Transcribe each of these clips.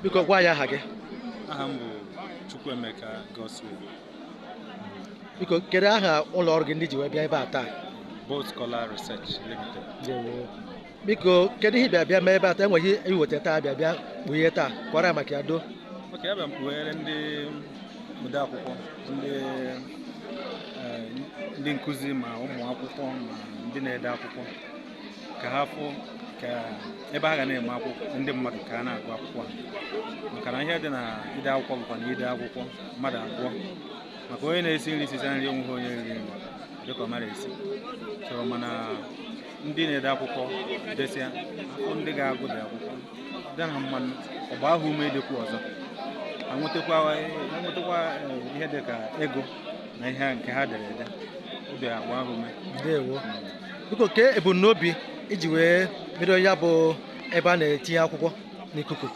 biko gwa anyị aha gị aha m bụ Chukwuemeka Godswill biko kedu aha ụlọ ọrụ gị ndị ji wee bịa ebe a taa Bolt Collar Research Limited biko kedu ihe ị bịa bịa mee ebe a taa e nwere ihe i weta taa bịa bịa kpughe taa kọwara maka ya do oke abịa m kpughere ndị ode akwụkwọ ndị eh, ndị nkụzi ma ụmụ akwụkwọ ma ndị na-ede akwụkwọ ka ha fụ ka ebe ha ga na-eme akwụkwọ ndị mmadụ ka a na-agụ akwụkwọ ha maka na ihe dị na ide akwụkwọ bụkwa na i dee akwụkwọ mmadụ agụọ maka onye na-esi nri sisịa nri onweghị onye riri nri dịka ọ mara esi so mana ndị na-ede akwụkwọ desịa akwụkwọ ndị ga-agụ the akwụkwọ dị ha mma ọ gbaa ha ume idekwu ọzọ ha nwetakwa ha nwetakwa eh, ihe dị ka ego na ihe nke ha dere ede ọ bịa gbaa ha ume ndewo biko kee ebumnobi i ji wee bido ya bụ ebe a na-etinye akwụkwọ n'ikuku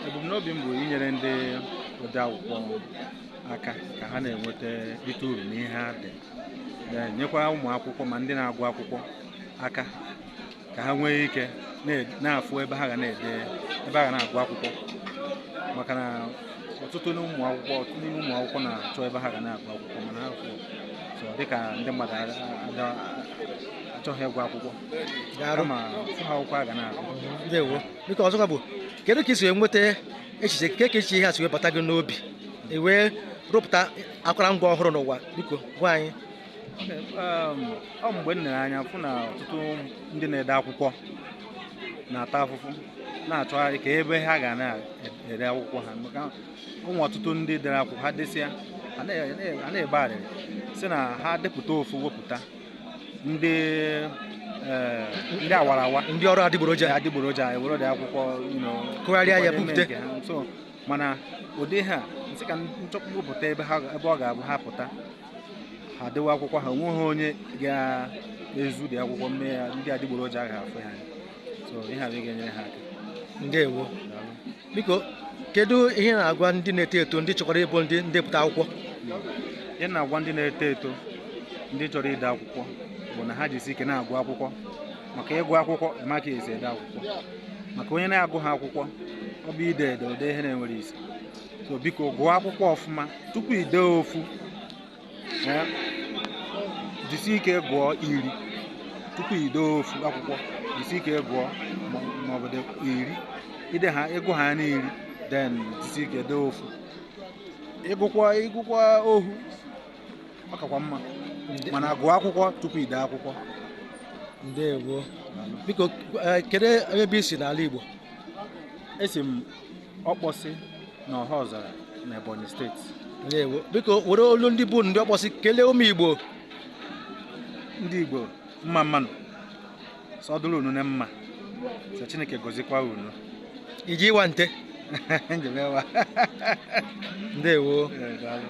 ebumnobi m bụ inyere ndị ode akwụkwọ aka ka ha na-enweta rite uru n'ihe ha dere nyekwa ụmụ akwụkwọ ma ndị na-agụ akwụkwọ aka ka ha nwee ike na-afụ ebe ha ga na-ede ebe ha ga na-agụ akwụkwọ maka na ọtụtụ n'ụmụ akwụkwọ ọtụtụ n'ime ụmụ akwụkwọ na-achọ ebe ha ga na-agụ akwụkwọ mana ha afụghị so dịka ndị mmadụ a- a- achọghị ịgụ akwụkwọ kama afụghị akwụkwọ ha ga na-agụ ndewo biko ọzọkwa bụ kedu ka i si wee nweta echiche kee ka echiche ihe a si wee bata gị n'obi i wee rụpụta akụrụngwa ọhụrụ n'ụwa biko gwa anyị Um, ọ mgbe m lere anya fụ na ọtụtụ ndị na-ede akwụkwọ na-ata afụfụ na-achọgharị ka ebe ha ga na-ere akwụkwọ ha maka enwere ọtụtụ ndị dere akwụkwọ ha desịa ha na-ebe arịrị sị na ha depụta ofu wepụta ndị eh, ndị awara awa ndị ọrụ adịgboroja adịgboroja ewere the akwụkwọ kụgharịa ya bipụta mana ụdị ha m sị ka m chọpụta wepụta ebe ọ ga-abụ ha pụta ha dewe akwụkwọ ha onweghị onye ga-ezu the akwụkwọ m mee ya ndị adịgboroja agaghị afụ ya so ihe a ga-enyere ha aka ndewo biko kedu ihe ị na-agwa ndị na-eto eto ndị chọkwara ịbụ ndị ndepụta akwụkwọ ihe m na-agwa ndị na-eto eto ndị chọrọ ide akwụkwọ bụ na ha jisi ike na-agụ akwụkwọ maka ị gụọ akwụkwọ ma ka esi ede akwụkwọ maka onye na-agụghị akwụkwọ ọ bụ ide ede o dee ihe na-enweghị isi so biko gụọ akwụkwọ ọfụma tupu ide ofu eh, jisi ike gụọ iri tupu ide ofu akwụkwọ jisi ike gụọ maọbụ iri ide ha ịgụ ha n'iri then jisi ike dee ofu ịgụkwa ịgụkwa ohu ọ kakwa mma mana gụọ akwụkwọ tupu ide akwụkwọ ndewo biko eh, kedu ebe i si n'ala Igbo esi m ọkpọsị na ọhaọzara na ebonyi steeti ndewo biko were olu ndị bụ ndị ọkpọsị kelee ụmụ igbo ndị igbo mma mma nụ sị ọ dụrụ unu na mma sị chineke gozikwa unu iji ịṅa ntị njem ewa ndewo Ee, daalụ.